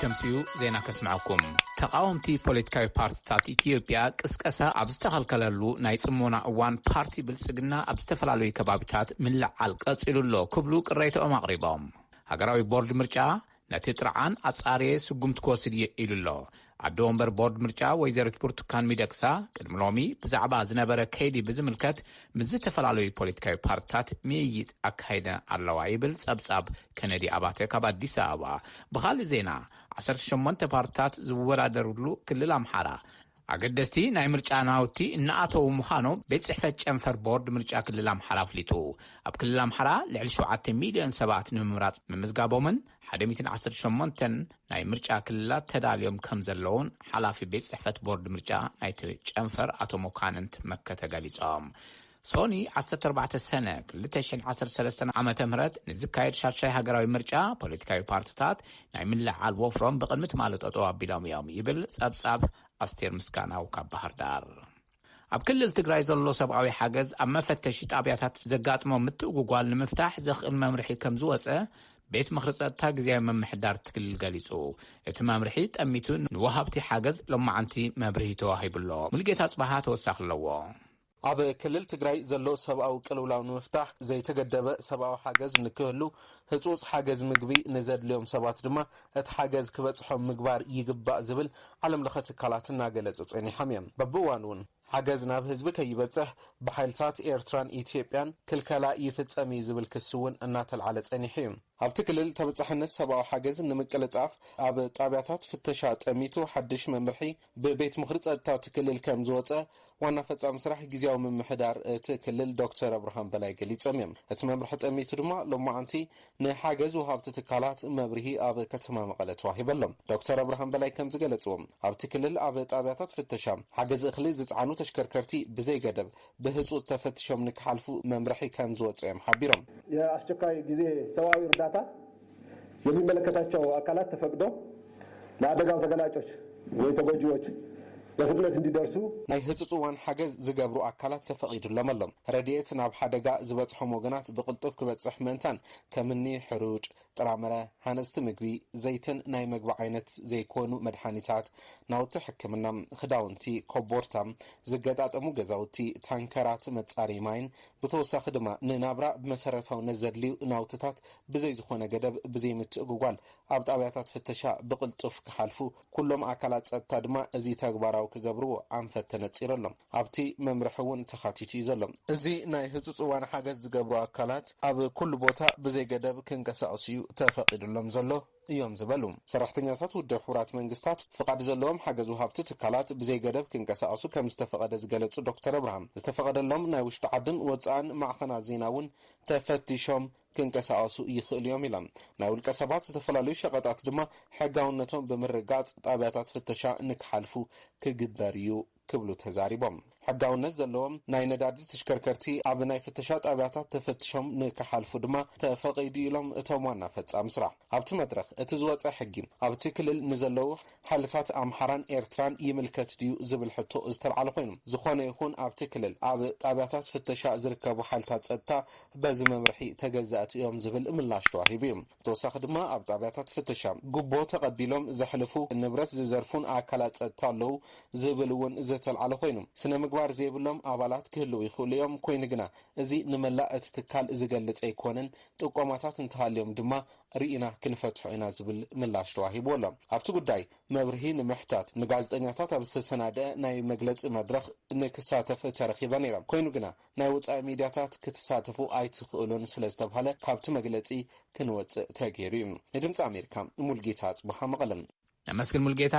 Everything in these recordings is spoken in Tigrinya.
ከምሲኡ ዜና ከስምዐኩም ተቃወምቲ ፖለቲካዊ ፓርቲታት ኢትዮጵያ ቅስቀሳ ኣብ ዝተኸልከለሉ ናይ ፅሞና እዋን ፓርቲ ብልፅግና ኣብ ዝተፈላለዩ ከባቢታት ምልዓል ቀፂሉ ኣሎ ክብሉ ቅሬታኦም ኣቕሪቦም ሃገራዊ ቦርድ ምርጫ ነቲ ጥርዓን ኣጻርየ ስጉምቲ ክወስድ እየ ኢሉ'ሎ። ኣደ ወንበር ቦርድ ምርጫ ወይዘሪት ብርቱካን ሚደቅሳ ቅድሚ ሎሚ ብዛዕባ ዝነበረ ከይዲ ብዝምልከት ምስ ዝተፈላለዩ ፖለቲካዊ ፓርትታት ምይይጥ ኣካይደን ኣለዋ ይብል ፀብፃብ ከነዲ ኣባተ ካብ ኣዲስ ኣበባ። ብኻሊእ ዜና ዓሰርተ ሸሞንተ ፓርትታት ዝወዳደርሉ ክልል ኣምሓራ ኣገደስቲ ናይ ምርጫ ናውቲ እናኣተዉ ምዃኖም ቤት ፅሕፈት ጨንፈር ቦርድ ምርጫ ክልል ኣምሓራ ኣፍሊጡ። ኣብ ክልል ኣምሓራ ልዕሊ ሸውዓተ ሚልዮን ሰባት ንምምራፅ ምምዝጋቦምን ሓደ ሚእትን ዓሰርተ ሸሞንተን ናይ ምርጫ ክልላት ተዳልዮም ከምዘለዉን ሓላፊ ቤት ፅሕፈት ቦርድ ምርጫ ናይቲ ጨንፈር ኣቶ መኳንንት መከተ ገሊፆም። ሶኒ ዓሰርተ ኣርባዕተ ሰነ ክልተ ሽሕን ዓሰርተ ሰለስተን ዓመተ ምህረት ንዝካየድ ሻድሻይ ሃገራዊ ምርጫ ፖለቲካዊ ፓርትታት ናይ ምልዕዓል ወፍሮም ብቕድሚ ትማሊ ጠጠው ኣቢሎም እዮም ይብል ፀብፃብ ኣስቴር ምስጋናው ካብ ባህርዳር። ኣብ ክልል ትግራይ ዘሎ ሰብኣዊ ሓገዝ ኣብ መፈተሺ ጣብያታት ዘጋጥሞ ምትእጉጓል ንምፍታሕ ዘኽእል መምርሒ ከምዝወፀ ቤት ምኽሪ ጸጥታ ግዜያዊ ምምሕዳር እቲ ክልል ገሊጹ እቲ መምርሒ ጠሚቱ ንወሃብቲ ሓገዝ ሎማዓንቲ መብርሂ ተዋሂቡሎ ሙሉጌታ ጽባሃ ተወሳኺ ኣለዎ ኣብ ክልል ትግራይ ዘሎ ሰብኣዊ ቅልውላው ንምፍታሕ ዘይተገደበ ሰብኣዊ ሓገዝ ንክህሉ፣ ህፁፅ ሓገዝ ምግቢ ንዘድልዮም ሰባት ድማ እቲ ሓገዝ ክበፅሖም ምግባር ይግባእ ዝብል ዓለም ለኸ ትካላት እናገለፁ ፀኒሖም እዮም። በብእዋኑ እውን ሓገዝ ናብ ህዝቢ ከይበፅሕ ብሓይልታት ኤርትራን ኢትዮጵያን ክልከላ ይፍፀም እዩ ዝብል ክሲ እውን እናተልዓለ ፀኒሑ እዩ። ኣብቲ ክልል ተበፃሕነት ሰብኣዊ ሓገዝ ንምቅልጣፍ ኣብ ጣብያታት ፍተሻ ጠሚቱ ሓድሽ መምርሒ ብቤት ምኽሪ ፀጥታ እቲ ክልል ከምዝወፀ ዋና ፈፃሚ ስራሕ ጊዚያዊ ምምሕዳር እቲ ክልል ዶክተር ኣብርሃም በላይ ገሊፆም እዮም። እቲ መምርሒ ጠሚቱ ድማ ሎማዕንቲ ንሓገዝ ወሃብቲ ትካላት መብርሂ ኣብ ከተማ መቐለ ተዋሂቡ ኣሎ። ዶክተር ኣብርሃም በላይ ከምዝገለፅዎ ኣብቲ ክልል ኣብ ጣብያታት ፍተሻ ሓገዝ እኽሊ ዝፅዓኑ ተሽከርከርቲ ብዘይገደብ ብህፁፅ ተፈቲሾም ንክሓልፉ መምርሒ ከምዝወፀ እዮም ሓቢሮም። የኣስቸኳይ ጊዜ ሰብኣዊ እርዳታ የሚመለከታቸው አካላት ተፈቅዶ ለአደጋው ተገላጮች ወይ ተጎጂዎች በፍጥነት እንዲደርሱ ናይ ህጹጽ እዋን ሓገዝ ዝገብሩ ኣካላት ተፈቒዱሎም ኣሎ። ረድኤት ናብ ሓደጋ ዝበጽሖም ወገናት ብቕልጡፍ ክበጽሕ ምእንታን ከምኒ ሕሩጭ፣ ጥራምረ፣ ሃነጽቲ ምግቢ፣ ዘይትን ናይ መግቢ ዓይነት ዘይኮኑ መድሓኒታት፣ ናውቲ ሕክምና፣ ክዳውንቲ፣ ኮቦርታ፣ ዝገጣጠሙ ገዛውቲ፣ ታንከራት መጻረዪ ማይን ብተወሳኺ ድማ ንናብራ ብመሰረታዊነት ዘድልዩ ናውትታት ብዘይ ዝኾነ ገደብ ብዘይ ምትእጉጓል ኣብ ጣብያታት ፍተሻ ብቕልጡፍ ክሓልፉ ኩሎም ኣካላት ፀጥታ ድማ እዚ ተግባራዊ ክገብርዎ ኣንፈት ተነፂሩ ኣሎ። ኣብቲ መምርሒ እውን ተኻቲቱ እዩ ዘሎ። እዚ ናይ ህፁፅ እዋን ሓገዝ ዝገብሩ ኣካላት ኣብ ኩሉ ቦታ ብዘይ ገደብ ክንቀሳቕሱ እዩ ተፈቒዱሎም ዘሎ። እዮም ዝበሉ ሰራሕተኛታት ውድብ ሕቡራት መንግስታት ፍቓድ ዘለዎም ሓገዝ ወሃብቲ ትካላት ብዘይገደብ ክንቀሳቐሱ ከምዝተፈቐደ ዝገለፁ ዶክተር እብርሃም ዝተፈቐደሎም ናይ ውሽጢ ዓድን ወፃእን ማዕኸናት ዜና እውን ተፈቲሾም ክንቀሳቐሱ ይኽእሉ እዮም ኢሎም። ናይ ውልቀ ሰባት ዝተፈላለዩ ሸቐጣት ድማ ሕጋውነቶም ብምርግጋፅ ጣብያታት ፍተሻ ንክሓልፉ ክግበር እዩ ክብሉ ተዛሪቦም። ሕጋውነት ዘለዎም ናይ ነዳዲ ተሽከርከርቲ ኣብ ናይ ፍተሻ ጣብያታት ተፈትሾም ንክሓልፉ ድማ ተፈቒዱ ኢሎም እቶም ዋና ፈፃሚ ስራሕ። ኣብቲ መድረኽ እቲ ዝወፀ ሕጊ ኣብቲ ክልል ንዘለዉ ሓይልታት ኣምሓራን ኤርትራን ይምልከት ድዩ ዝብል ሕቶ ዝተልዓለ ኮይኑ ዝኾነ ይኹን ኣብቲ ክልል ኣብ ጣብያታት ፍተሻ ዝርከቡ ሓይልታት ፀጥታ በዚ መምርሒ ተገዛእቲ እዮም ዝብል ምላሽ ተዋሂቡ እዩ። ብተወሳኺ ድማ ኣብ ጣብያታት ፍተሻ ጉቦ ተቐቢሎም ዘሕልፉ፣ ንብረት ዝዘርፉን ኣካላት ፀጥታ ኣለዉ ዝብል እውን ዝተልዓለ ኮይኑ፣ ስነ ምግባር ዘይብሎም ኣባላት ክህልው ይኽእሉ እዮም፣ ኮይኑ ግና እዚ ንመላእ እቲ ትካል ዝገልፅ ኣይኮነን፣ ጥቆማታት እንተሃልዮም ድማ ርኢና ክንፈትሖ ኢና ዝብል ምላሽ ተዋሂብዎ ኣሎ። ኣብቲ ጉዳይ መብርሂ ንምሕታት ንጋዜጠኛታት ኣብ ዝተሰናደኣ ናይ መግለፂ መድረኽ ንክሳተፍ ተረኺበ ነይረ፣ ኮይኑ ግና ናይ ወጻኢ ሚድያታት ክትሳተፉ ኣይትኽእሉን ስለ ዝተብሃለ ካብቲ መግለጺ ክንወጽእ ተገይሩ እዩ። ንድምጺ ኣሜሪካ ሙልጌታ ኣጽብሃ መቐለ። ነመስግን ሙልጌታ።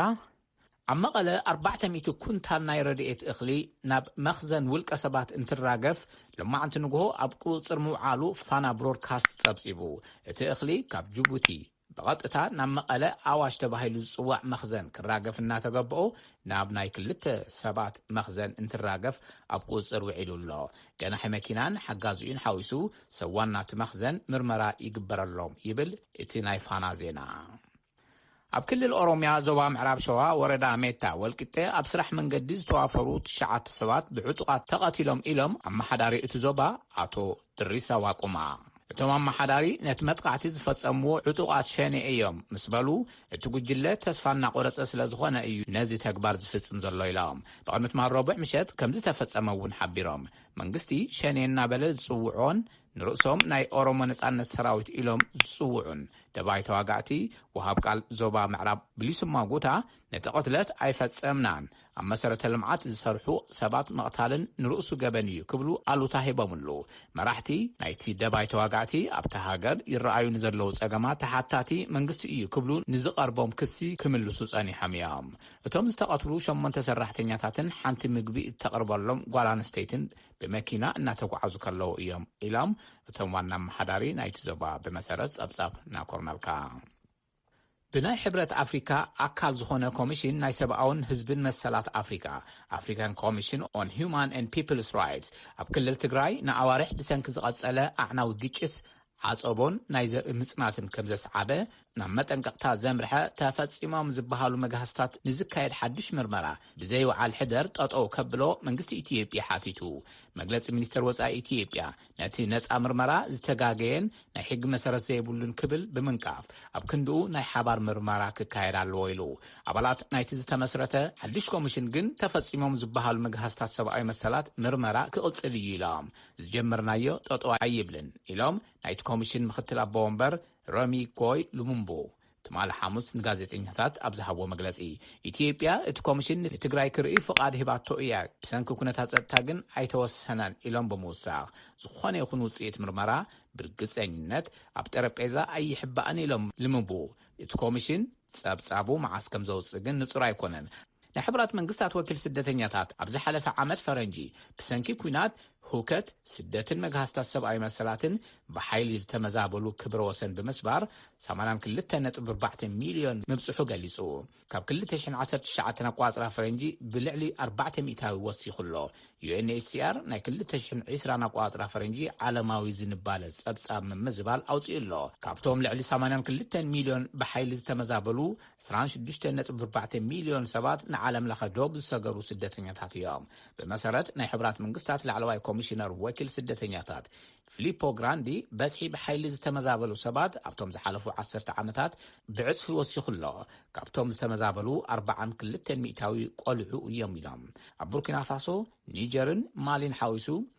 ኣብ መቐለ ኣርባዕተ ሚእቲ ኩንታል ናይ ረድኤት እኽሊ ናብ መኽዘን ውልቀ ሰባት እንትራገፍ ሎማዕንቲ ንጉሆ ኣብ ቁፅፅር ምውዓሉ ፋና ብሮድካስት ፀብፂቡ። እቲ እኽሊ ካብ ጅቡቲ፣ ብቐጥታ ናብ መቐለ ኣዋሽ ተባሂሉ ዝጽዋዕ መኽዘን ክራገፍ እናተገበኦ ናብ ናይ ክልተ ሰባት መኽዘን እንትራገፍ ኣብ ቁጽጽር ውዒሉ ኣሎ። ገናሒ መኪናን ሓጋዚኡን ሓዊሱ ሰብ ዋና'ቲ መኽዘን ምርመራ ይግበረሎም ይብል እቲ ናይ ፋና ዜና። ኣብ ክልል ኦሮምያ ዞባ ምዕራብ ሸዋ ወረዳ ሜታ ወልቂጤ ኣብ ስራሕ መንገዲ ዝተዋፈሩ ትሽዓተ ሰባት ብዕጡቓት ተቐቲሎም ኢሎም ኣመሓዳሪ እቲ ዞባ ኣቶ ድሪሳ ዋቁማ፣ እቶም ኣመሓዳሪ ነቲ መጥቓዕቲ ዝፈጸምዎ ዕጡቓት ሸኔ እዮም ምስ በሉ፣ እቲ ጉጅለ ተስፋ እናቖረጸ ስለ ዝኾነ እዩ ነዚ ተግባር ዝፍጽም ዘሎ ኢሎም። ጥቕምት ማል ረቡዕ ምሸት ከም ዝተፈጸመ እውን ሓቢሮም። መንግስቲ ሸኔ እናበለ ዝጽውዖን ንርእሶም ናይ ኦሮሞ ነጻነት ሰራዊት ኢሎም ዝጽውዑን ደባይ ተዋጋእቲ፣ ወሃብ ቃል ዞባ ምዕራብ ብሊሱማ ጉታ፣ ነቲ ቅትለት ኣይፈጸምናን፣ ኣብ መሰረተ ልምዓት ዝሰርሑ ሰባት ምቕታልን ንርእሱ ገበን እዩ ክብሉ ኣሉታ ሂቦምሉ። መራሕቲ ናይቲ ደባይ ተዋጋእቲ ኣብታ ሃገር ይረኣዩ ንዘለዉ ጸገማት ተሓታቲ መንግስቲ እዩ ክብሉ ንዝቐርቦም ክሲ ክምልሱ ጸኒሖም እዮም። እቶም ዝተቐትሉ ሸሞንተ ሰራሕተኛታትን ሓንቲ ምግቢ እተቕርበሎም ጓል ኣንስተይትን ብመኪና እናተጓዓዙ ከለዉ እዮም ኢሎም እቶም ዋና ኣመሓዳሪ ናይቲ ዞባ ብመሰረት ጸብጻብ ናኮርናልካ። ብናይ ሕብረት ኣፍሪካ ኣካል ዝኾነ ኮሚሽን ናይ ሰብኣውን ህዝብን መሰላት ኣፍሪካ፣ African Commission on Human and People's Rights፣ ኣብ ክልል ትግራይ ንኣዋርሕ ብሰንኪ ዝቐፀለ ኣዕናዊ ግጭት፣ ዓፀቦን ናይ ዘርኢ ምፅናትን ከምዘስዓበ ናብ መጠንቀቕታ ዘምርሐ ተፈፂሞም ዝበሃሉ መግሃስታት ንዝካየድ ሓዱሽ ምርመራ ብዘይውዓል ሕደር ጠጠው ከብሎ መንግስቲ ኢትዮጵያ ሓቲቱ። መግለፂ ሚኒስቴር ወፃኢ ኢትዮጵያ ነቲ ነጻ ምርመራ ዝተጋገየን ናይ ሕጊ መሰረት ዘይብሉን ክብል ብምንቃፍ፣ ኣብ ክንድኡ ናይ ሓባር ምርመራ ክካየድ ኣለዎ ኢሉ። ኣባላት ናይቲ ዝተመስረተ ሓድሽ ኮሚሽን ግን ተፈጺሞም ዝበሃሉ ምግሃስታት ሰብኣዊ መሰላት ምርመራ ክቕጽል እዩ ኢሎም። ዝጀመርናዮ ጠጠው ኣይብልን ኢሎም ናይቲ ኮሚሽን ምክትል ኣቦ ወንበር ረሚ ጎይ ሉሙምቡ ትማሊ ሓሙስ ንጋዜጠኛታት ኣብ ዝሃብዎ መግለፂ፣ ኢትዮጵያ እቲ ኮሚሽን ንትግራይ ክርኢ ፍቓድ ሂባቶ እያ፣ ብሰንኪ ኩነታት ፀጥታ ግን ኣይተወሰነን ኢሎም ብምውሳኽ፣ ዝኾነ ይኹን ውፅኢት ምርመራ ብርግፀኝነት ኣብ ጠረጴዛ ኣይሕባእን ኢሎም ልምቡእ እቲ ኮሚሽን ፀብፃቡ መዓስ ከምዘውፅእ ግን ንፁር ኣይኮነን። ናይ ሕቡራት መንግስታት ወኪል ስደተኛታት ኣብ ዝሓለፈ ዓመት ፈረንጂ ብሰንኪ ኲናት፣ ሁከት፣ ስደትን መግሃስታት ሰብኣዊ መሰላትን ብሓይሊ ዝተመዛበሉ ክብረ ወሰን ብምስባር ሰማንያን ክልተ ነጥቢ ኣርባዕተ ሚልዮን ምብጽሑ ገሊጹ። ካብ ክልተ ሽሕን ዓሰርተ ትሽዓተን ኣቆጻጽራ ፈረንጂ ብልዕሊ ኣርባዕተ ሚእታዊ ወሲኹ ኣሎ። ዩኤንኤችሲኣር ናይ ክልተ ሽሕን ዕስራን ኣቆጻጽራ ፈረንጂ ዓለማዊ ዝንባለ ጸብጻብ ምምዝባል ኣውጺኡ ኣሎ። ካብቶም ልዕሊ ሰማንያን ክልተን ሚልዮን ብሓይሊ ዝተመዛበሉ ዕስራን ሽዱሽተን ነጥቢ ኣርባዕተ ሚልዮን ሰባት ንዓለምለኸ ዶብ ዝሰገሩ ስደተኛታት እዮም። ብመሰረት ናይ ሕቡራት መንግስታት ላዕለዋይ ኮሚሽነር ወኪል ስደተኛታት ፊሊፖ ግራንዲ፣ በዝሒ ብሓይሊ ዝተመዛበሉ ሰባት ኣብቶም ዝሓለፉ ዓሰርተ ዓመታት ብዕጽፊ ወሲኹ ኣሎ፣ ካብቶም ዝተመዛበሉ ኣርባዓን ክልተን ሚእታዊ ቆልዑ እዮም ኢሎም። ኣብ ቡርኪናፋሶ፣ ኒጀርን ማሊን ሓዊሱ፣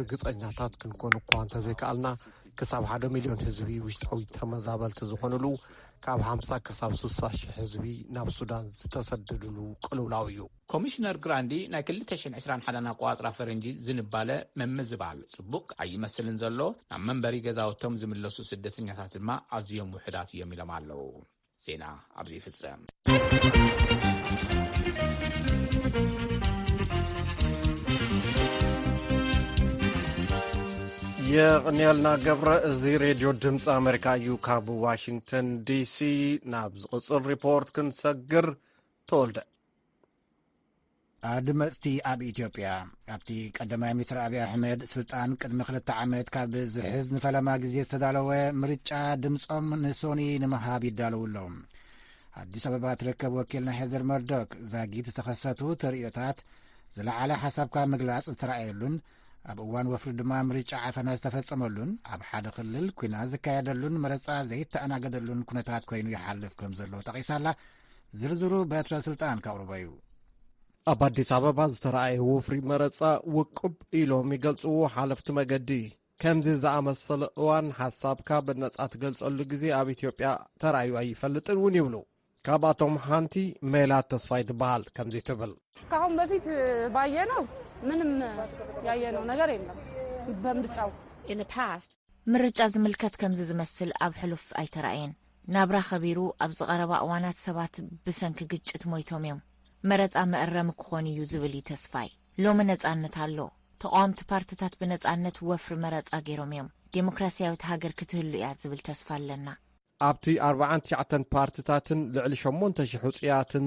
ርግጸኛታት ክንኮን እኳ እንተዘይከኣልና ክሳብ ሓደ ሚልዮን ህዝቢ ውሽጣዊ ተመዛበልቲ ዝኾኑሉ ካብ ሓምሳ ክሳብ ስሳ ሽሕ ህዝቢ ናብ ሱዳን ዝተሰደድሉ ቅልውላው እዩ። ኮሚሽነር ግራንዲ ናይ ክልተ ሽሕን ዕስራን ሓደን ኣቆጻጽራ ፈረንጂ ዝንባለ ምምዝባል ጽቡቕ ኣይመስልን ዘሎ፣ ናብ መንበሪ ገዛውቶም ዝምለሱ ስደተኛታት ድማ ኣዝዮም ውሑዳት እዮም ኢሎም ኣለው። ዜና ኣብዚ ይፍጸም። የቕንየልና ገብረ እዚ ሬድዮ ድምፂ ኣሜሪካ እዩ ካብ ዋሽንግተን ዲሲ ናብ ዝቕፅል ሪፖርት ክንሰግር ተወልደ ኣድመጽቲ ኣብ ኢትዮጵያ ኣብቲ ቀዳማይ ሚኒስትር ኣብዪ ኣሕመድ ስልጣን ቅድሚ ክልተ ዓመት ካብ ዝሕዝ ንፈለማ ግዜ ዝተዳለወ ምርጫ ድምጾም ንሶኒ ንምሃብ ይዳለዉ ኣለዉ ኣዲስ ኣበባ ትርከብ ወኪልና ሄዘር መርዶክ ዛጊት ዝተኸሰቱ ተርእዮታት ዝለዓለ ሓሳብካ ምግላጽ ዝተረኣየሉን ኣብ እዋን ወፍሪ ድማ ምርጫ ዓፈና ዝተፈጸመሉን ኣብ ሓደ ክልል ኩና ዝካየደሉን መረፃ ዘይተኣናገደሉን ኩነታት ኮይኑ ይሓልፍ ከም ዘሎ ጠቒሳላ ኣላ ዝርዝሩ በትረ ስልጣን ከቕርቦ እዩ። ኣብ ኣዲስ ኣበባ ዝተረኣየ ወፍሪ መረፃ ውቁብ ኢሎም ይገልፅዎ ሓለፍቲ መገዲ ከምዚ ዝኣመሰለ እዋን ሓሳብካ ብነጻ ትገልጸሉ ግዜ ኣብ ኢትዮጵያ ተራእዩ ኣይፈልጥን እውን ይብሉ ካብኣቶም ሓንቲ ሜላት ተስፋይ ትበሃል ከምዚ ትብል ካሁን በፊት ባየነው ምንም ያየነው ነገር የለም በምርጫው ምርጫ ዝምልከት ከምዚ ዝመስል ኣብ ሕሉፍ ኣይተራእየን ናብራ ከቢሩ ኣብዚ ቀረባ እዋናት ሰባት ብሰንኪ ግጭት ሞይቶም እዮም። መረፃ መእረሚ ክኾን እዩ ዝብል እዩ ተስፋይ። ሎሚ ነፃነት ኣሎ። ተቓወምቲ ፓርትታት ብነፃነት ወፍሪ መረፃ ገይሮም እዮም። ዴሞክራሲያዊት ሃገር ክትህሉ እያ ዝብል ተስፋ ኣለና። ኣብቲ ኣርብዓን ትሽዓተን ፓርትታትን ልዕሊ ሸሞንተ ሽሕ ውፁያትን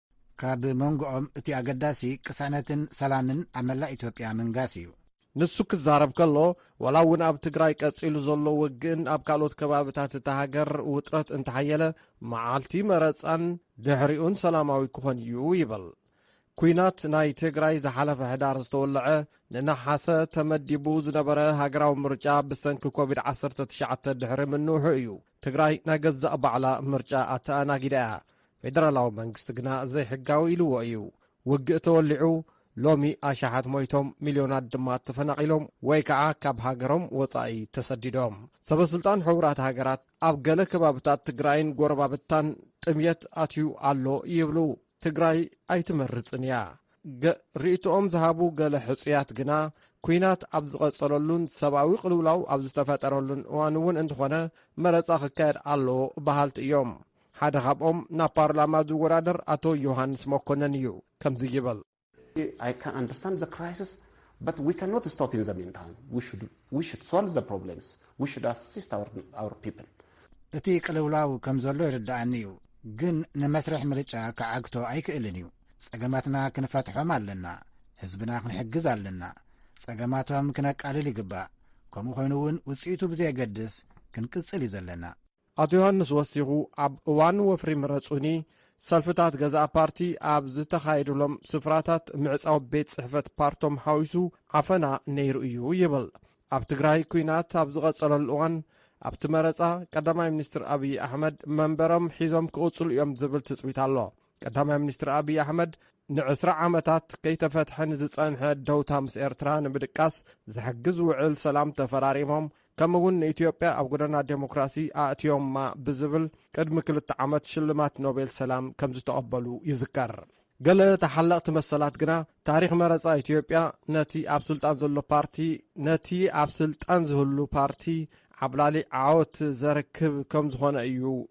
ካብ መንጎኦም እቲ ኣገዳሲ ቅሳነትን ሰላምን ኣብ መላእ ኢትዮጵያ ምንጋስ እዩ። ንሱ ክዛረብ ከሎ ዋላ እውን ኣብ ትግራይ ቀፂሉ ዘሎ ውግእን ኣብ ካልኦት ከባብታት እታ ሃገር ውጥረት እንተሓየለ መዓልቲ መረፃን ድሕሪኡን ሰላማዊ ክኾን እዩ ይብል። ኩናት ናይ ትግራይ ዝሓለፈ ሕዳር ዝተወለዐ ንነሓሰ ተመዲቡ ዝነበረ ሃገራዊ ምርጫ ብሰንኪ ኮቪድ-19 ድሕሪ ምንውሑ እዩ። ትግራይ ናይ ገዛእ ባዕላ ምርጫ ኣተኣናጊዳ እያ፣ ፌደራላዊ መንግስቲ ግና ዘይሕጋዊ ኢልዎ እዩ። ውግእ ተወሊዑ ሎሚ ኣሽሓት ሞይቶም ሚልዮናት ድማ ተፈናቒሎም ወይ ከዓ ካብ ሃገሮም ወፃኢ ተሰዲዶም። ሰበስልጣን ሕቡራት ሃገራት ኣብ ገለ ከባብታት ትግራይን ጎረባብታን ጥምየት ኣትዩ ኣሎ ይብሉ። ትግራይ ኣይትመርፅን እያ። ርእይትኦም ዝሃቡ ገለ ሕፁያት ግና ኩናት ኣብ ዝቐጸለሉን ሰብኣዊ ቅልውላው ኣብ ዝተፈጠረሉን እዋን እውን እንተኾነ መረፃ ክካየድ ኣለዎ በሃልቲ እዮም ሓደ ካብኦም ናብ ፓርላማ ዝወዳደር ኣቶ ዮሃንስ መኮነን እዩ ከምዚ ይበል But we cannot stop in the meantime. We should, we should solve the problems. We should assist our, our people. እቲ ቅልውላው ከም ዘሎ ይርድኣኒ እዩ፣ ግን ንመስርሕ ምርጫ ክዓግቶ ኣይክእልን እዩ። ጸገማትና ክንፈትሖም ኣለና። ህዝብና ክንሕግዝ ኣለና። ጸገማቶም ክነቃልል ይግባእ። ከምኡ ኮይኑ እውን ውጽኢቱ ብዘየገድስ ክንቅጽል እዩ ዘለና። ኣቶ ዮሃንስ ወሲኹ ኣብ እዋን ወፍሪ ምረጹኒ ሰልፍታት ገዛእ ፓርቲ ኣብ ዝተኻየድሎም ስፍራታት ምዕጻው ቤት ጽሕፈት ፓርቶም ሓዊሱ ዓፈና ነይሩ እዩ ይብል። ኣብ ትግራይ ኩናት ኣብ ዝቐጸለሉ እዋን ኣብቲ መረጻ ቀዳማይ ሚኒስትር ኣብዪ ኣሕመድ መንበሮም ሒዞም ክቕጽሉ እዮም ዝብል ትጽቢት ኣሎ። ቀዳማይ ሚኒስትር ኣብዪ ኣሕመድ ንዕስራ ዓመታት ከይተፈትሐ ንዝጸንሐ ደውታ ምስ ኤርትራ ንምድቃስ ዝሕግዝ ውዕል ሰላም ተፈራሪሞም ከምኡ እውን ንኢትዮጵያ ኣብ ጎደና ዴሞክራሲ ኣእትዮማ ብዝብል ቅድሚ ክልተ ዓመት ሽልማት ኖቤል ሰላም ከም ዝተቐበሉ ይዝከር ገለ ተሓለቕቲ መሰላት ግና ታሪኽ መረፃ ኢትዮጵያ ነቲ ኣብ ስልጣን ዘሎ ፓርቲ ነቲ ኣብ ስልጣን ዝህሉ ፓርቲ ዓብላሊ ዓወት ዘርክብ ከም ዝኾነ እዩ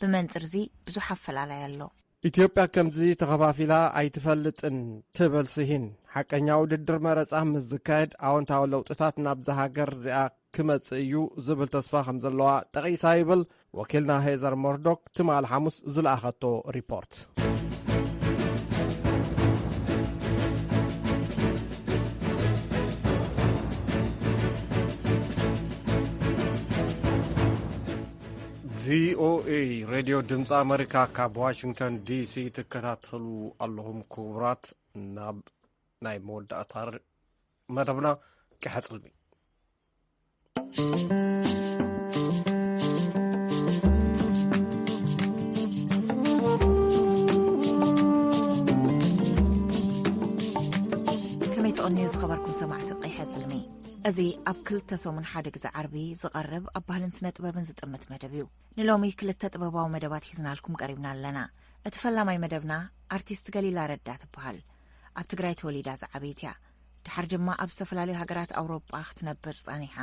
ብመንፅርዚ ብዙሕ ኣፈላላይ ኣሎ። ኢትዮጵያ ከምዚ ተኸፋፊላ ኣይትፈልጥን ትብል ስሂን፣ ሓቀኛ ውድድር መረፃ ምስ ዝካየድ ኣወንታዊ ለውጥታት ናብዛ ሃገር እዚኣ ክመፅእ እዩ ዝብል ተስፋ ከም ዘለዋ ጠቒሳ ይብል ወኪልና ሄዘር ሞርዶክ ትማል ሓሙስ ዝለኣኸቶ ሪፖርት። ቪኦኤ ሬድዮ ድምፂ ኣመሪካ ካብ ዋሽንግተን ዲሲ ትከታተሉ ኣለኹም ክቡራት ናብ ናይ መወዳእታ መደብና ቀሐፅልሚ ከመይ ተቕንዩ ዝኸበርኩም ሰማዕቲ ቀይሐ ዝልሚ እዚ ኣብ ክልተ ሰሙን ሓደ ግዜ ዓርቢ ዝቐርብ ኣብ ባህልን ስነ ጥበብን ዝጥምት መደብ እዩ ንሎሚ ክልተ ጥበባዊ መደባት ሒዝናልኩም ቀሪብና ኣለና እቲ ፈላማይ መደብና ኣርቲስት ገሊላ ረዳ ትበሃል ኣብ ትግራይ ተወሊዳ ዝዓበይት እያ ድሓር ድማ ኣብ ዝተፈላለዩ ሃገራት ኣውሮጳ ክትነብር ጸኒሓ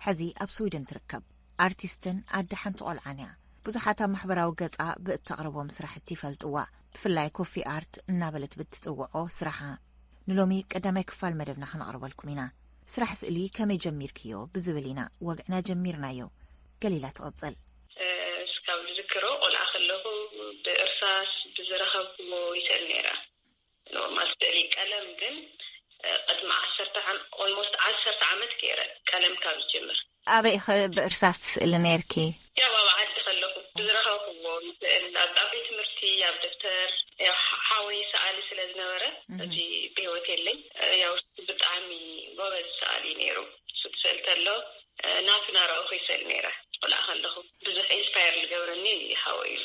ሕዚ ኣብ ስዊድን ትርከብ። ኣርቲስትን ኣደ ሓንቲ ቆልዓን እያ። ብዙሓት ኣብ ማሕበራዊ ገጻ ብእተቕርቦም ስራሕቲ ይፈልጥዋ፣ ብፍላይ ኮፊ ኣርት እናበለት ብትጽውዖ ስራሓ። ንሎሚ ቀዳማይ ክፋል መደብና ከነቕርበልኩም ኢና። ስራሕ ስእሊ ከመይ ጀሚርክዮ ብዝብል ኢና ወግዕና ጀሚርናዮ። ገሊላ ትቕጽል። እስካብ ዝዝክሮ ቆልዓ ከለኹ ብእርሳስ ብዝረኸብክዎ ይስእል ነይረ። ኖርማል ስእሊ ቀለም ግን ቅድሚ ዓሰርተ ኦልሞስት ዓሰርተ ዓመት ገይረ ቀለም ካብ ዝጅምር። ኣበይ ኢኺ ብእርሳስ ትስእሊ ነይርኪ? ያው ኣብ ዓዲ ከለኹ ብዝረኸብኩዎ ይስእል ኣብ ቤት ትምህርቲ ኣብ ደብተር ያው ሓወይ ሰኣሊ ስለ ዝነበረ ሕጂ ብህይወት የለይ ያው እሱ ብጣዕሚ ጎበዝ ሰኣሊ እዩ ነይሩ እሱ ክስእል ከሎ ናቱ ናረኣኹ ይስእል ነይረ ቆልዓ ከለኹ ብዙሕ ኢንስፓየር ዝገብረኒ ሓወይ እዩ።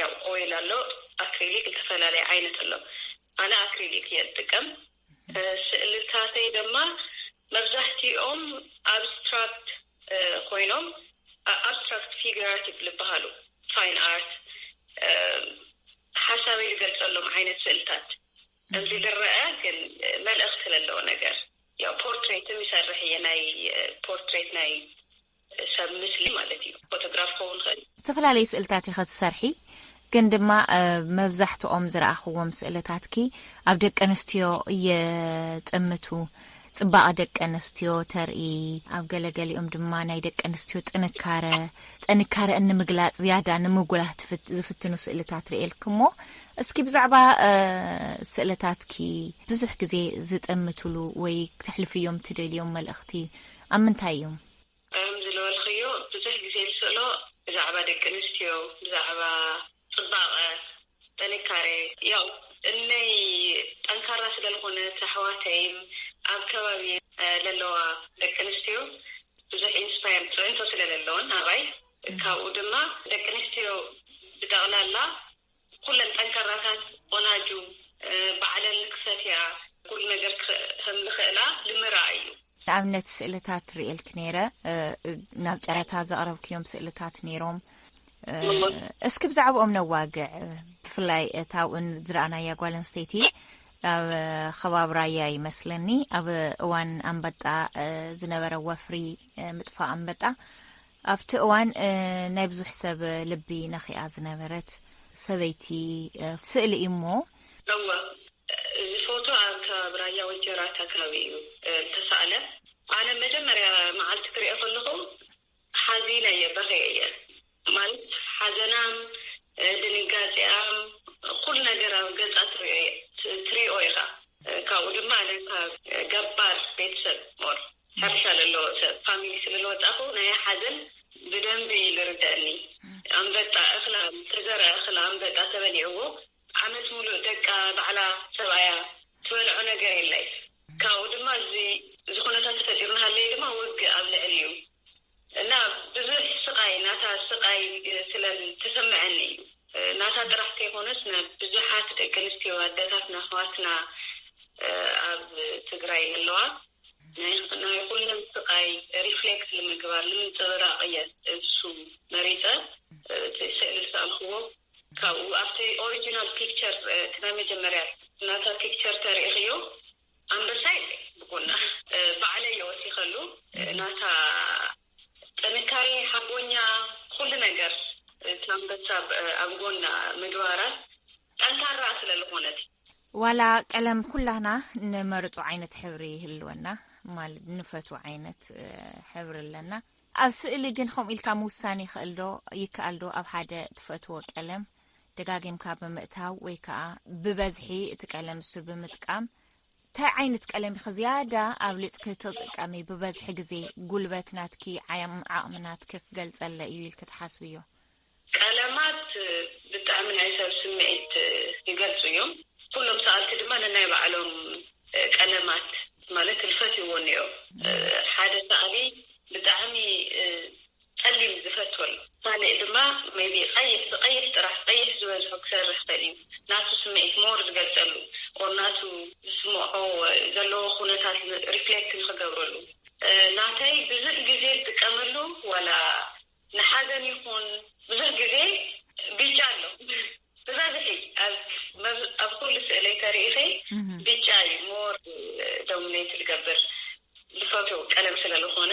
ያው ኦይል ኣሎ ኣክሪሊክ ዝተፈላለየ ዓይነት ኣሎ ኣነ ኣክሪሊክ እየ ዝጥቀም ስእልታተይ ደማ መብዛሕቲኦም ኣብስትራክት ኮይኖም ኣብስትራክት ፊግራቲ ልበሃሉ ፋይን ኣርት ሓሳበይ ዝገልፀሎም ዓይነት ስእልታት እምዚ ዝረአ ግን መልእኽቲ ዘለዎ ነገር ያው ፖርትሬትም ይሰርሕ እየ ናይ ፖርትሬት ናይ ሰብ ምስሊ ማለት እዩ ፎቶግራፍ ክኸውን ይኽእል እዩ። ዝተፈላለዩ ስእልታት ኢኺ ትሰርሒ ግን ድማ መብዛሕትኦም ዝረኣኽዎም ስእልታትኪ ኣብ ደቂ ኣንስትዮ ይጥምቱ፣ ጽባቐ ደቂ ኣንስትዮ ተርኢ፣ ኣብ ገለ ገሊኦም ድማ ናይ ደቂ ኣንስትዮ ጥንካረ ጥንካረአን ንምግላጽ ዝያዳ ንምጉላህ ዝፍትኑ ስእልታት ርእየልኪ እሞ እስኪ ብዛዕባ ስእልታትኪ ብዙሕ ግዜ ዝጥምትሉ ወይ ክተሕልፍዮም ትደልዮም መልእኽቲ ኣብ ምንታይ እዮም? ከምዚ ልበልክዮ ብዙሕ ግዜ ልስእሎ ብዛዕባ ደቂ ኣንስትዮ ብዛዕባ ጽባቀ ጥንካሬ ያው እነይ ጠንካራ ስለ ልኮነት ኣሕዋተይን ኣብ ከባቢየይ ለለዋ ደቂ ኣንስትዮ ብዙሕ ኢንስፓየር ጽዕንቶ ስለ ለለወን ኣባይ ካብኡ ድማ ደቂ ኣንስትዮ ብጠቅላላ ኩለን ጠንካራታት ቆናጁ ባዕለን ክሰትያ ኩሉ ነገር ከም ዝኽእላ ንምርኣይ እዩ። ንኣብነት ስእልታት ርእየልኪ ነይረ ናብ ጨረታ ዘቕረብክዮም ስእልታት ነይሮም እስኪ ብዛዕባኦም ነዋግዕ ብፍላይ እታ ውን ዝረኣናያ ጓል ኣንስተይቲ ኣብ ከባቢ ራያ ይመስለኒ ኣብ እዋን ኣንበጣ ዝነበረ ወፍሪ ምጥፋእ ኣንበጣ ኣብቲ እዋን ናይ ብዙሕ ሰብ ልቢ ነኺኣ ዝነበረት ሰበይቲ ስእሊ እዩ እሞ። እወ እዚ ፎቶ ኣብ ከባቢ ራያ ወጀራት ኣከባቢ እዩ ዝተሳእለ። ኣነ መጀመርያ መዓልቲ ክሪኦ ከለኹ ሓዚነ እየ በኽየ እየ ማለት ሓዘናም ድንጋጼኣም ኩሉ ነገር ኣብ ገጻ ትሪኦ ኢኻ ካብኡ ድማ ኣነ ካብ ገባር ቤተሰብ more። ሓርሻ ለለዎ ሰብ ፋሚሊ ስለልወጻኹ ናያ ሓዘን ብደንቢ ልርደእኒ ኣምበጣ እኽላ ዝተዘርኣ እኽላ ኣምበጣ ተበሊዕዎ ዓመት ሙሉእ ደቃ ባዕላ ሰብኣያ ትበልዖ ነገር የላይት ካብኡ ድማ እዚ ዝኹነታት ተፈጢሩ ናሃለየ ድማ ውግእ ኣብ ልዕሊኡ እና ብዙሕ ስቃይ ናታ ስቃይ ስለ ተሰመዐኒ እዩ ናታ ጥራሕ ተይኮነስ ናብ ብዙሓት ደቂ ኣንስትዮ ኣደታትና ኣሕዋትና ኣብ ትግራይ ዘለዋ ናይ ኩለን ስቃይ ሪፍሌክት ንምግባር ንምንፅብራቅ እየ እሱ መሪፀ እቲ ስእሊ ዝሰኣልክዎ ካብኡ ኣብቲ ኦሪጅናል ፒክቸር እቲ ናይ መጀመርያ ናታ ፒክቸር ተሪኢክዮ ኣንበሳይ ብጎና ባዕለይ የወሲከሉ ናታ ጥንካሬ ሓቦኛ ኩሉ ነገር እቲ ኣንበሳ ኣብ ጎና ምግባራ ጠንካራ ስለ ልኮነት። ዋላ ቀለም ኩላና ንመርጾ ዓይነት ሕብሪ ይህልወና ማለት ንፈትዎ ዓይነት ሕብሪ ኣለና ኣብ ስእሊ ግን ከምኡ ኢልካ ምውሳን ይክእል ዶ ይከኣል ዶ ኣብ ሓደ ትፈትዎ ቀለም ደጋጊምካ ብምእታው ወይ ከኣ ብበዝሒ እቲ ቀለም ንሱ ብምጥቃም ታይ ዓይነት ቀለም ኢኺ ዝያዳ ኣብሊጽኪ ትጥቀሚ ብበዝሒ ግዜ ጉልበት ናትኪ ዓቕሚ ናትኪ ክገልጸለይ እዩ ኢልኪ ትሓስብዮ? ቀለማት ብጣዕሚ ናይ ሰብ ስምዒት ይገልጹ እዮም። ኩሎም ሰኣልቲ ድማ ነናይ ባዕሎም ቀለማት ማለት ልፈትይዎ እንኦ ሓደ ሰኣሊ ብጣዕሚ ጸሊም ዝፈትዎ እዩ ካልእ ድማ ሜይቢ ቀይሕ ብቀይሕ ጥራሕ ቀይሕ ዝበዝሑ ክሰርሕ ይክእል እዩ ናቱ ስምዒት ሞር ዝገልጸሉ ኦር ናቱ ዝስምዖ ዘለዎ ኩነታት ሪፍሌክት ንክገብረሉ ናተይ ብዙሕ ግዜ ዝጥቀመሉ ዋላ ንሓዘን ይኩን ብዙሕ ግዜ ቢጫ ኣሎ ብበዝሒ ኣብ ኩሉ ስእለይ ተሪኢኪ ቢጫ እዩ ሞር ዶሚነይት ዝገብር ዝፈትዎ ቀለም ስለልኮነ።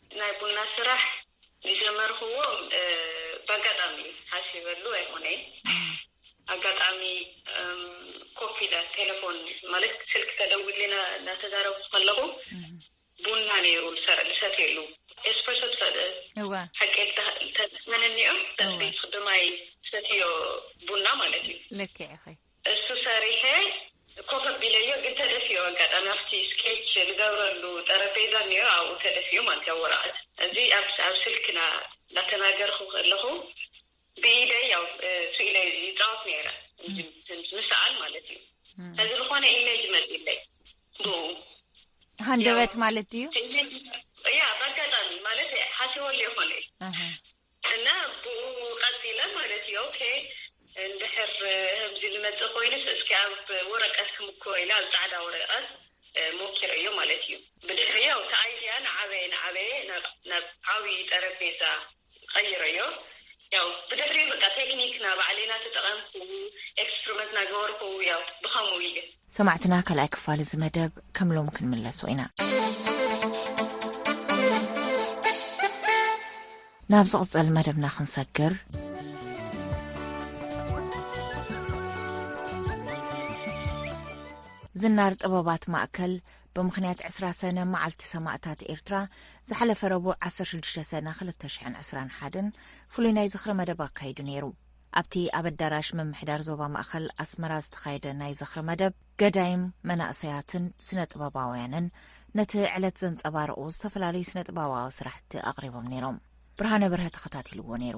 ናይ ቡና ስራሕ ዝጀመርክዎ ብኣጋጣሚ እዩ፣ ሓሲበሉ ኣይኮነይ። ኣጋጣሚ ኮፍ ኢለ ቴለፎን ማለት ስልኪ ተደዊሉለይ እናተዛረብኩ ከለኹ ቡና ነይሩ ዝሰትየሉ ኤስፕረሶ ትፈልጥ ሓቂ ተዝእመነኒ እዮ፣ ደቂ ቤትኪ ብማይ ትሰትይዮ ቡና ማለት እዩ። ልክዕ ኢኺ። እሱ ሰሪሐ ኮፍ ኣቢለዮ ግን ተደፊኡ ኣጋጣሚ ኣብቲ ስኬች ዝገብረሉ ጠረጴዛ እኒኦ ኣብኡ ተደፊኡ ማለት እዩ ኣብ ወረቐት እዚ ኣብ ስልክ እንዳተናገርኹ ከለኹ ብኢደይ ያው እሱ ኢለ ይፃወት ነይረ ምስኣል ማለት እዩ እዚ ዝኾነ ኢሜጅ መፅለይ ብኡ ሃንደበት ማለት እዩ ያ ብኣጋጣሚ ማለት ሓሲቦ ሊኦ ኮነ እና ብኡ ቀጺለ ማለት እዩ ኦኬ እንድሕር ህምዚ ልመጽእ ኮይኑስ እስኪ ኣብ ወረቀት ክምኩሮ ኢለ ኣብ ጻዕዳ ወረቀት ሞኪረዮ ማለት እዩ ብድሕሪ ያው እቲ ኣይድያ ናዓበየ ናዓበየ ናብ ዓብይ ጠረጴዛ ቀይረዮ ያው ብድሕሪኡ በቃ ቴክኒክ ናባዕለይና ተጠቀምኩ ኤክስፕርመት ናገበርኩ ያው ብከምኡ እዩ። ሰማዕትና ካልኣይ ክፋል እዚ መደብ ከም ሎሚ ክንምለሶ ኢና። ናብ ዝቕጽል መደብና ክንሰግር ዝናር ጥበባት ማእከል ብምኽንያት ዕስራ ሰነ መዓልቲ ሰማእታት ኤርትራ ዝሓለፈ ረቡዕ 16 ሰነ 221 ፍሉይ ናይ ዝኽሪ መደብ ኣካይዱ ነይሩ ኣብቲ ኣብ ኣዳራሽ ምምሕዳር ዞባ ማእኸል ኣስመራ ዝተኻየደ ናይ ዝኽሪ መደብ፣ ገዳይም መናእሰያትን ስነ ጥበባውያንን ነቲ ዕለት ዘንጸባርቑ ዝተፈላለዩ ስነ ጥበባዊ ስራሕቲ ኣቕሪቦም ነይሮም። ብርሃነ በርሀ ተኸታቲልዎ ነይሩ።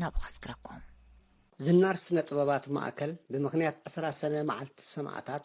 ናብኡ ከስግረኩም። ዝናር ስነ ጥበባት ማእከል ብምኽንያት ዕስራ ሰነ መዓልቲ ሰማእታት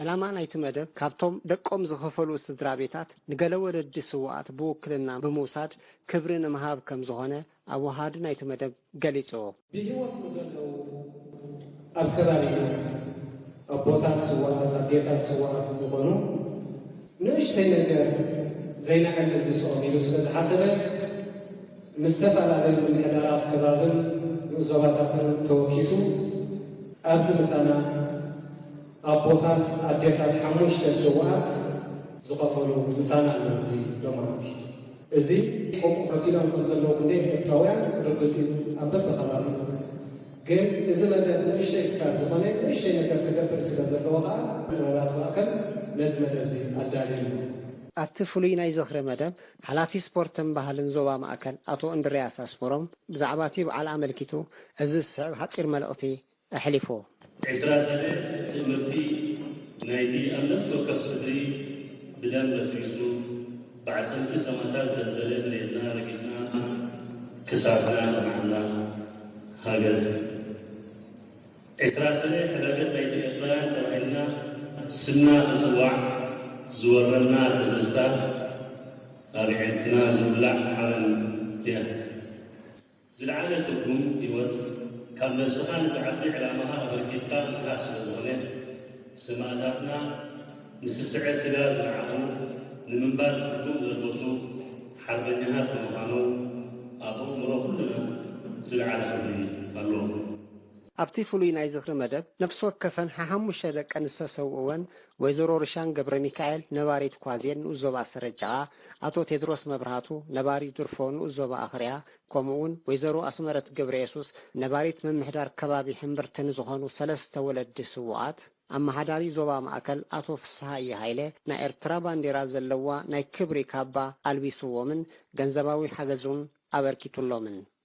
ዕላማ ናይቲ መደብ ካብቶም ደቆም ዝኸፈሉ ስድራ ቤታት ንገለ ወለዲ ስውኣት ብውክልና ብምውሳድ ክብሪ ንምሃብ ከም ዝኾነ ኣወሃሃዲ ናይቲ መደብ ገሊጹ። ብህይወት ንዘለዉ ኣብ ከባቢና ኣቦታት ስውኣት ኣዴታት ስውኣት ዝኾኑ ንእሽተይ ነገር ዘይንዕልል ምስኦም ኢሉ ስለ ዝሓሰበ፣ ምስ ዝተፈላለዩ ምምሕዳራት ከባብን ንኡስ ዞባታትን ተወኪሱ ኣብዚ ምሳና ኣቦታት ኣዴታት ሓሙሽተ ስውኣት ዝኸፈሉ ምሳና ኣለዉ እዚ ሎማዓንቲ እዚ ከምኡ ከፊሎም ከም ዘለዉ ክንደይ ኤርትራውያን ርግጽ እዩ ኣብ በብከባቢ ግን እዚ መደብ ንእሽተይ ክሳብ ዝኾነ ንእሽተይ ነገር ክገብር ስለ ዘለዎ ከኣ ጥበባት ማእከል ነዚ መደብ እዚ ኣዳልዩ ኣሎ። ኣብቲ ፍሉይ ናይ ዝኽሪ መደብ ሓላፊ ስፖርትን ባህልን ዞባ ማእከል ኣቶ እንድርያስ ኣስመሮም ብዛዕባ'ቲ በዓል ኣመልኪቱ እዚ ዝስዕብ ሓጺር መልእኽቲ ኣሕሊፉ። ዕስራ ሰነ ትእምርቲ ናይ'ቲ ኣብ ነፍሲ ወከፍ ስድሪ ብደም በስቢሱ ብዓጽምቲ ሰማታት ዝደልደለ መሬትና ረጊጽና ክሳድና ኣልማዕና ሃገር። ኤርትራ ሰነ ሕዳገት ናይቲ ኤርትራውያን ተባሂልና ስምና ክጽዋዕ ዝወረና ደዘዝታ ኣርዒድና ዝብላዕ ሓበን እያ። ዝለዓለ ትርጉም ህይወት ካብ ነብስኻ ነቲ ዓቢ ዕላማኻ ኣበርኪትካ ምትራፍ ስለ ዝኾነ ሰማእታትና ንስስዐ ስጋ ዝነዓቑ ንምንባር ትርጉም ዘልበሱ ሓርበኛታት ብምዃኖም ኣብ ኣእምሮ ኩልና ዝለዓለ ክብሪ ኣለዎም። ኣብቲ ፍሉይ ናይ ዝኽሪ መደብ ነፍሲ ወከፈን ሓሓሙሽተ ደቀን ዝተሰውኡወን ወይዘሮ ርሻን ገብረሚካኤል ነባሪት ኳዜን ንኡስ ዞባ ሰረት ጭቓ፣ ኣቶ ቴድሮስ መብራህቱ ነባሪ ድርፎ ንኡስ ዞባ ኣኽርያ ከምኡ'ውን ወይዘሮ ኣስመረት ገብረየሱስ ነባሪት ምምሕዳር ከባቢ ሕምብርቲ ንዝኾኑ ሰለስተ ወለዲ ስዉኣት ኣመሓዳሪ ዞባ ማእከል ኣቶ ፍስሃየ ሃይለ ናይ ኤርትራ ባንዴራ ዘለዋ ናይ ክብሪ ካባ ኣልቢሱዎምን ገንዘባዊ ሓገዝ'ውን ኣበርኪቱሎምን።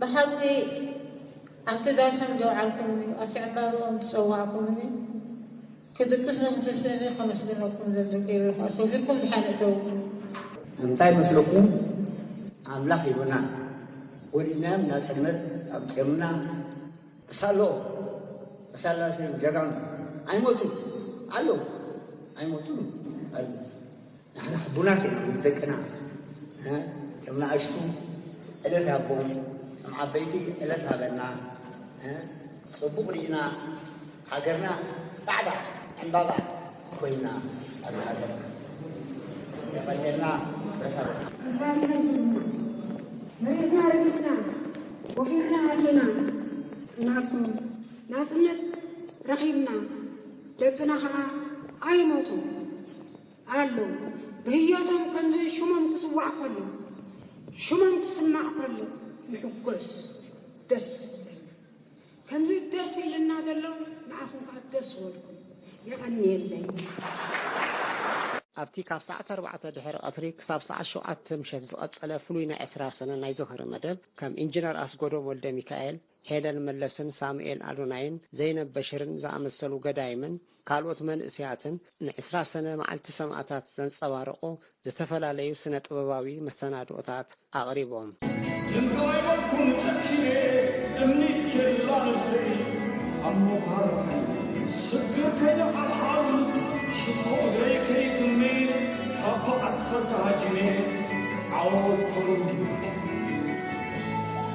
ብሓቂ ኣብቲ ዳሰም ዘውዓልኩምኒ፣ ኣብቲ ዕምባብኦም ዝጸዋዕኩምኒ ክድቅስ ብምትስእኒ ከመስግነኩም እዞም ደቂ ኤረይ ከኣ ሰጊርኩም ድሓን እተውኒ። እንታይ መስለኩም ኣምላኽ ሂቡና ወሊድናዮም ናጽነት ኣምጺኦምልና ሳሎ ሳላሰ ጀጋኑ ኣይሞቱን ኣለው ኣይሞቱን ኣለው ንሕና ሕቡናት ኢና ምስ ደቅና ከም ንኣሽቱ ዕለት ሃቦም ከም ዓበይቲ ዕለት ሃበና ጽቡቕ ርኢና ሃገርና ጻዕዳ ዕምባባ ኮይና ኣብ ሃገርና የቐኔልና ብረታ መሬትና ረጊጽና ወፊርና ኣቲና እናኩም ናጽነት ረኺብና ደቅና ኸዓ ኣይሞቱ ኣለው ብህዮቶም ከምዘን ሽሞም ክጽዋዕ ከሎ ሽሞም ክስማዕ ከሎ ንሕጎስ ደስ ይብለና ከምዚ ደስ ኢልና ዘሎ ንዓኹም ከኣ ደስ ወልኩም የቀንየለይ። ኣብቲ ካብ ሰዓት ኣርባዕተ ድሕሪ ቀትሪ ክሳብ ሰዓት ሸውዓተ ምሸት ዝቐጸለ ፍሉይ ናይ ዕስራ ሰነ ናይ ዝኽሪ መደብ ከም ኢንጅነር ኣስጎዶም ወልደሚካኤል፣ ሄለን መለስን ሳሙኤል ኣዶናይን፣ ዘይነብ በሽርን ዝኣመሰሉ ገዳይምን ካልኦት መንእሰያትን ንዕስራ ሰነ መዓልቲ ሰማእታት ዘንጸባርቑ ዝተፈላለዩ ስነ-ጥበባዊ መሰናድኦታት ኣቕሪቦም። ዝንታይወልኩም ጨኪነ እምኒ ኬላ ነብሰይ ኣብ ሞዃርተይ ስግር ከይሓልሓል ሽቶ እግረይ ከይጥመ ካብ ብዓሰርተ ሃጂነ ዓወት ተረዲኡ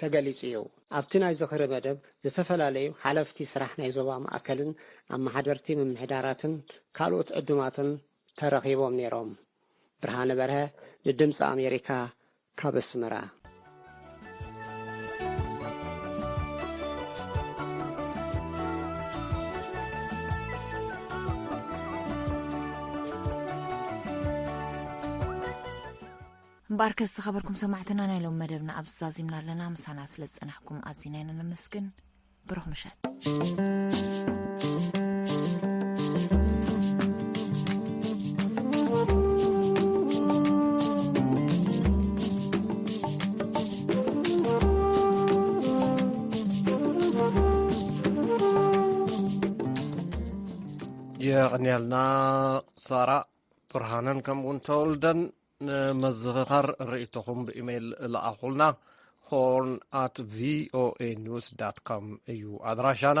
ተገሊፁ እዩ። ኣብቲ ናይ ዝኽሪ መደብ ዝተፈላለዩ ሓለፍቲ ስራሕ ናይ ዞባ ማእከልን ኣመሓደርቲ ምምሕዳራትን ካልኦት ዕዱማትን ተረኺቦም ነይሮም። ብርሃነ በርሀ ንድምፂ ኣሜሪካ ካብ ኣስመራ። እምበኣርከስ ዝኸበርኩም ሰማዕትና ናይ ሎም መደብና ኣብዚ ዛዚምና ኣለና ምሳና ስለ ዝጸናሕኩም ኣዚና ኢና ነመስግን ብሩኽ ምሸት የቕንያልና ሳራ ብርሃነን ከምኡውን ተወልደን ንምዝኽኻር ርእይቶኹም ብኢሜይል ለኣኹልና ሆርን ኣት ቪኦኤ ኒውስ ዳት ኮም እዩ ኣድራሻና